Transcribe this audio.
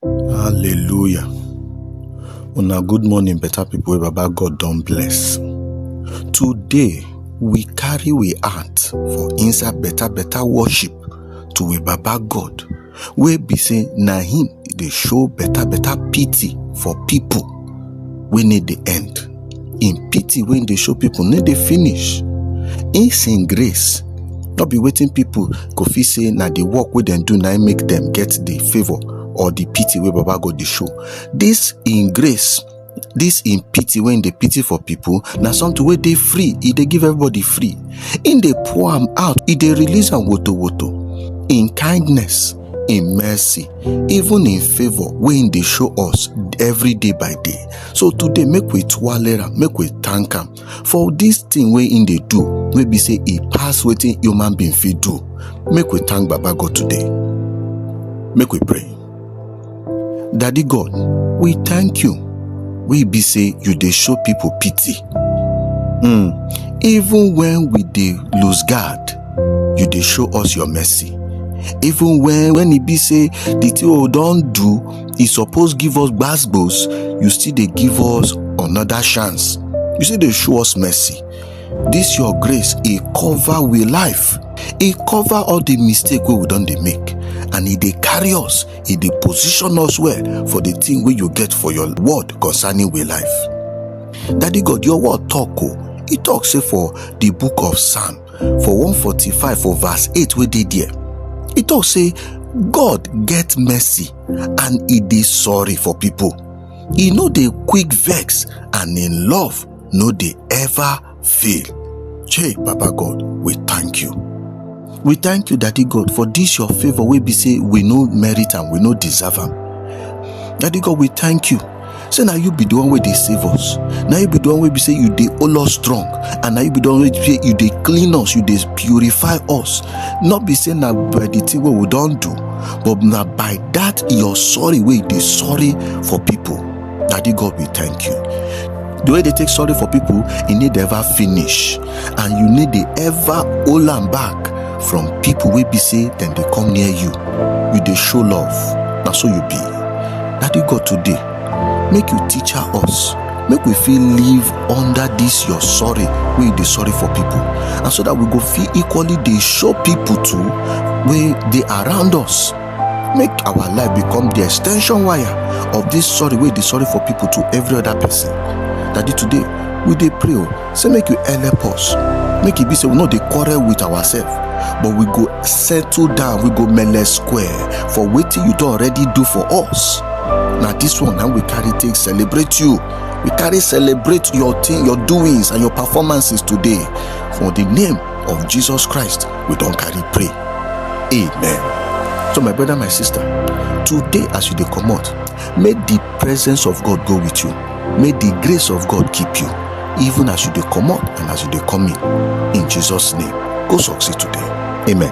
Hallelujah. Una good morning, better people wey Baba God don bless. Today, we carry we heart for inside better better worship to we Baba God wey be say na him dey show better better pity for people wey need the end. im pity wey im dey show pipo no dey finish im sin grace no be wetin pipo go fit say na di work wey dem do na im make dem get di favour or di pity wey baba god dey show dis im grace dis im pity wey im dey pity for pipo na something wey dey free e dey give everybody free im dey pour am out e dey release am woto woto im kindness in mercy even in favour wey him dey show us every day by day so today make we twale am make we thank am for this thing wey him dey do wey be say e pass wetin human being fit do make we thank baba god today make we pray Daddy God, we thank you. We be say you dey show people pity. Mm, even when we dey lose guard, you dey show us your mercy. Even when when e be say the thing we don do, e suppose give us gbasgbos, you still dey give us another chance. You still dey show us mercy. This your grace, e cover we life. E cover all the mistake wey we don dey make and e dey carry us e dey position us well for the thing wey you get for your word concerning we life daddy god your word talk o e talk say for the book of psalm for 145 for verse 8 wey dey there e talk say god get mercy and e dey sorry for people e no dey quick vex and im love no dey ever fail. Chey, Baba God, we thank you. We thank you, Daddy God, for this your favor wey be say we no merit am, we no deserve am. Daddy God, we thank you. Say na you be the one wey dey save us. Na you be the one wey be say you dey hold us strong, and na you be the one wey be say you dey clean us, you dey purify us. Not be say na by the thing wey we don do, but na by that your sorry wey you dey sorry for people. Daddy God, we thank you. The way they take sorry for people, e need ever finish, and you need dey ever hold am back from people wey be say dem dey come near you. You dey show love, na so you be. Daddy God, today, make you teach us, make we fit live under this your sorry wey you dey sorry for people, and so that we go fit equally dey show people too wey dey around us make our life become the extension wire of this sorry wey dey sorry for people to every other person daddy today we dey pray o say make you help us make e be say we no dey quarrel with ourselves but we go settle down we go mele square for wetin you don already do for us na this one na we carry take celebrate you we carry celebrate your thing your doings and your performances today for the name of jesus christ we don carry pray amen so my brother my sister today as you dey comot make the presence of god go with you make the grace of god keep you even as you dey comot and as you dey come in in jesus name go succeed today amen